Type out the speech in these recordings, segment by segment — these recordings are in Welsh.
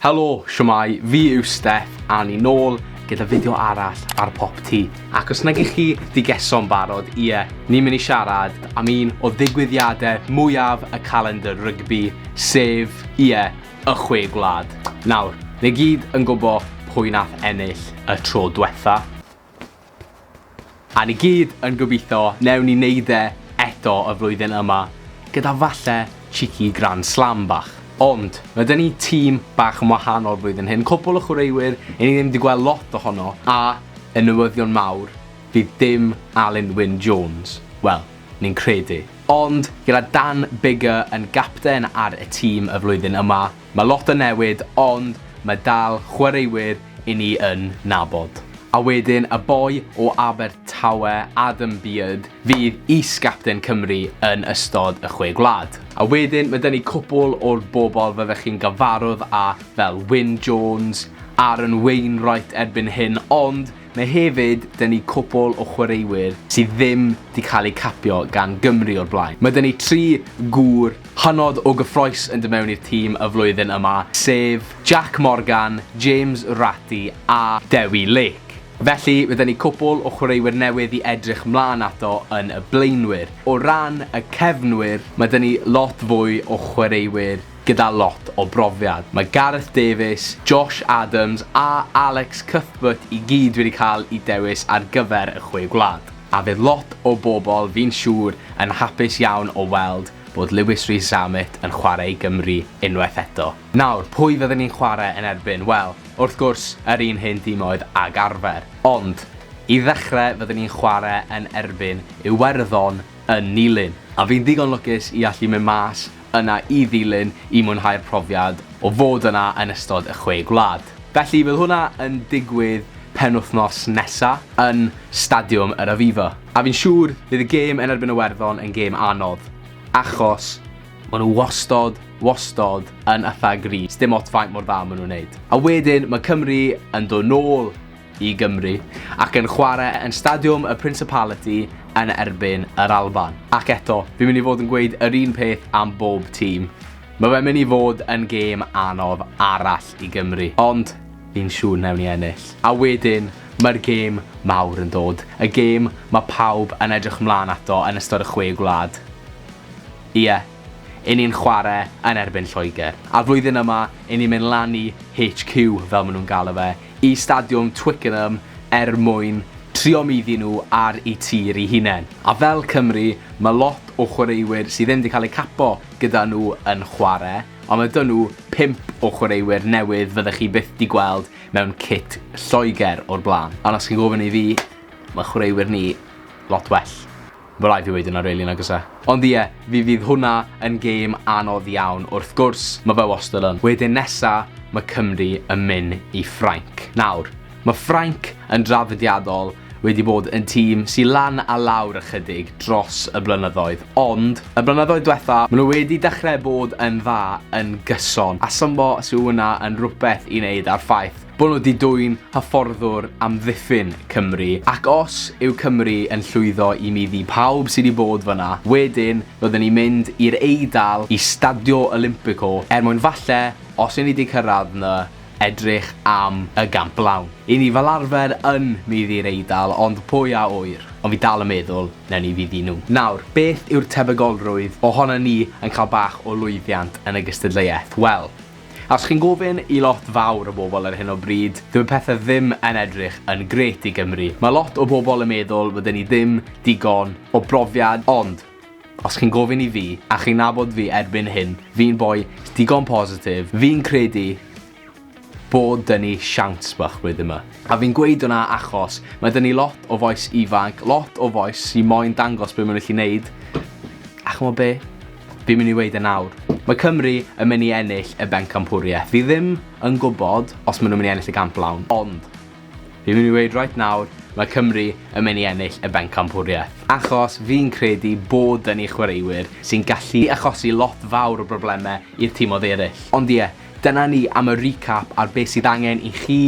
Helo, shwmae, fi yw Steff a ni nôl gyda fideo arall ar Popty ac os nag 'ych chi 'di geso'n barod, ie, ni'n mynd i siarad am un o ddigwyddiadau mwyaf y calendr rygbi, sef, ie, y Chwe Gwlad. Nawr, ni gyd yn gwbo pwy nath ennill y tro dwetha. A ni gyd yn gobeithio newn ni neud e eto y flwyddyn yma, gyda falle cheeky grand slam bach. Ond, ma' 'da ni tîm bach yn wahanol flwyddyn hyn, cwpwl o chwaraewyr i ni ddim 'di gweld lot ohono, a, yn newyddion mawr, fydd dim Alun Wyn Jones. Wel, ni'n credu. Ond, gyda Dan Biggar yn gapten ar y tîm y flwyddyn yma, Mae lot yn newid ond mae dal chwaraewyr i ni yn nabod. A wedyn y boi o Abertawe, Adam Beard, fydd is-gapten Cymru yn ystod y Chwe Gwlad. A wedyn mae 'da ni cwpwl o'r bobl fyddech chi'n gyfarwdd â fel Wyn Jones, Aaron Wainwright erbyn hyn ond Mae hefyd 'da ni cwpwl o chwaraewyr sydd ddim 'di cael eu capio gan Gymru o'r blaen. Mae 'da ni tri gŵr hynod o gyffrous yn dod mewn i'r tîm y flwyddyn yma, sef Jac Morgan, James Ratty a Dewi Lake. Felly, mae 'da ni cwpwl o chwaraewyr newydd i edrych 'mlaen ato yn y blaenwyr. O ran y cefnwyr, mae 'da ni lot fwy o chwaraewyr Gyda lot o brofiad, mae Gareth Davies, Josh Adams a Alex Cuthbert i gyd wedi cael eu dewis ar gyfer y Chwe Gwlad, a fydd lot o bobl, fi'n siŵr, yn hapus iawn o weld bod Lewis Rees-Zammit yn chwarae i Gymru unwaith eto. Nawr, pwy fydden ni'n chwarae yn erbyn? Wel, wrth gwrs, yr un hen dimoedd ag arfer. Ond, i ddechrau fydden ni'n chwarae yn erbyn Iwerddon yn Nulyn. A fi'n ddigon lwcus i allu mynd mas yna i ddilyn i mwynhau'r profiad o fod yna yn ystod y Chwe Gwlad. Felly bydd hwnna yn digwydd penwythnos nesa yn Stadiwm yr Aviva. A fi'n siŵr bydd y gêm yn erbyn Iwerddon yn gêm anodd, achos ma' nhw wastod, wastod yn itha gryf, sdim ots faint mor dda ma' nhw'n neud. A wedyn ma' Cymru yn dod nôl i Gymru ac yn chwarae yn Stadiwm y Principality yn erbyn yr Alban. Ac eto, fi'n mynd i fod yn gweud yr un peth am bob tîm. Mae fe'n mynd i fod yn gêm anodd arall i Gymru, ond fi'n siŵr newn ni ennill. A wedyn, mae'r gêm mawr yn dod, y gêm mae pawb yn edrych ymlaen ato yn ystod y Chwe Gwlad. Ie, 'yn ni'n chwarae yn erbyn Lloegr. A'r flwyddyn yma, 'yn ni'n mynd lan i HQ, fel maen nhw'n galw fe, i Stadiwm Twickenham er mwyn trio muddu nhw ar eu tir eu hunain, a fel Cymru, mae lot o chwaraewyr sydd ddim 'di cael eu capo gyda nhw yn chwarae, ond mae 'da nhw pump o chwaraewyr newydd fyddech chi byth 'di gweld mewn cit Lloegr o'r blaen, ond os chi'n gofyn i fi, mae chwaraewyr ni lot well. Ma raid fi weud yna rili nag o's e? Ond ie, fi fydd hwnna yn gêm anodd iawn wrth gwrs, ma fe wastad yn. Wedyn nesa, ma Cymru yn myn i Ffrainc. Nawr, ma Ffrainc yn draddodiadol wedi bod yn tîm sy lan a lawr ychydig dros y blynyddoedd, ond y blynyddoedd dwetha, ma nhw wedi dechre bod yn dda yn gyson, a symbo sy wnna yn rwbeth i neud a'r ffaith Bod nhw 'di dwyn hyfforddwr amddiffyn Cymru, ac os yw Cymru yn llwyddo i middi pawb sy' 'di bod fan'na, wedyn fydden ni'n mynd i'r Eidal i Stadio Olimpico er mwyn falle, os 'yn ni 'di cyrraedd 'na, edrych am y Gamp Lawn. 'Yn ni fel arfer yn middi'r Eidal, ond pwy a ŵyr? Ond fi dal yn meddwl, newn ni fiddi nhw. Nawr, beth yw'r tebygolrwydd ohonon ni yn cael bach o lwyddiant yn y gystadleuaeth? Wel, Os chi'n gofyn i lot fawr o bobl ar hyn o bryd, dyw y pethe ddim yn edrych yn grêt i Gymru. Mae lot o bobl yn meddwl fod 'da ni ddim digon o brofiad ond, os chi'n gofyn i fi, a chi'n nabod fi erbyn hyn, fi'n boi digon positif, fi'n credu bod 'da ni siawns bach blwyddyn 'ma. A fi'n gweud hwnna achos mae 'da ni lot o fois ifanc, lot o fois sy moyn dangos be' ma' nhw gallu neud, a ch'mod be'? Fi'n mynd i weud e nawr. Mae Cymru yn mynd i ennill y bencampwriaeth. Fi ddim yn gwybod os maen nhw'n mynd i ennill y gamp lawn, ond fi'n mynd i weud right nawr, mae Cymru yn mynd i ennill y bencampwriaeth. Achos fi'n credu bod dyn ni chwaraewyr sy'n gallu achosi lot fawr o broblemau i'r timoedd eraill. Ond ie, dyna ni am y recap ar beth sydd angen i chi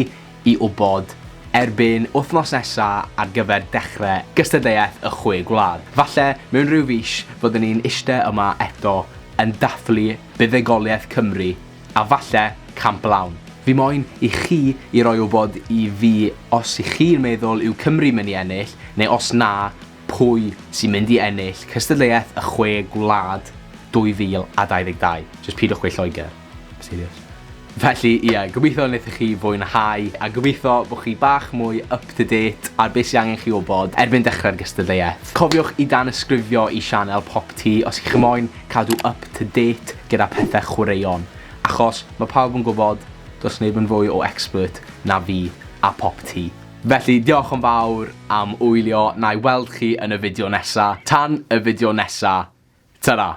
i wybod erbyn wythnos nesa ar gyfer dechre gystadleuaeth y Chwe Gwlad. Falle mewn rhyw fis fyddwn ni'n iste yma eto yn dathlu buddugoliaeth Cymru a falle camp lawn. Fi moyn i chi i roi wybod i fi os i chi'n meddwl yw Cymru mynd i ennill neu os na, pwy sy'n mynd i ennill cystadleuaeth y Chwe Gwlad 2022. Jyst pidwch gweud Lloegr. Serious. Felly, ie, gobeithio wnaethoch chi fwynhau, a gobeithio bod chi bach mwy up to date ar beth sydd angen chi wybod erbyn dechrau'r gystadleuaeth. Cofiwch i danysgrifio i sianel Pop Tee os chi'ch moyn cadw up to date gyda pethau chwaraeon, achos mae pawb yn gwybod, does neb yn fwy o expert na fi a Pop Tee. Felly, diolch yn fawr am wylio, na i weld chi yn y fideo nesaf. Tan y fideo nesaf, ta-ra!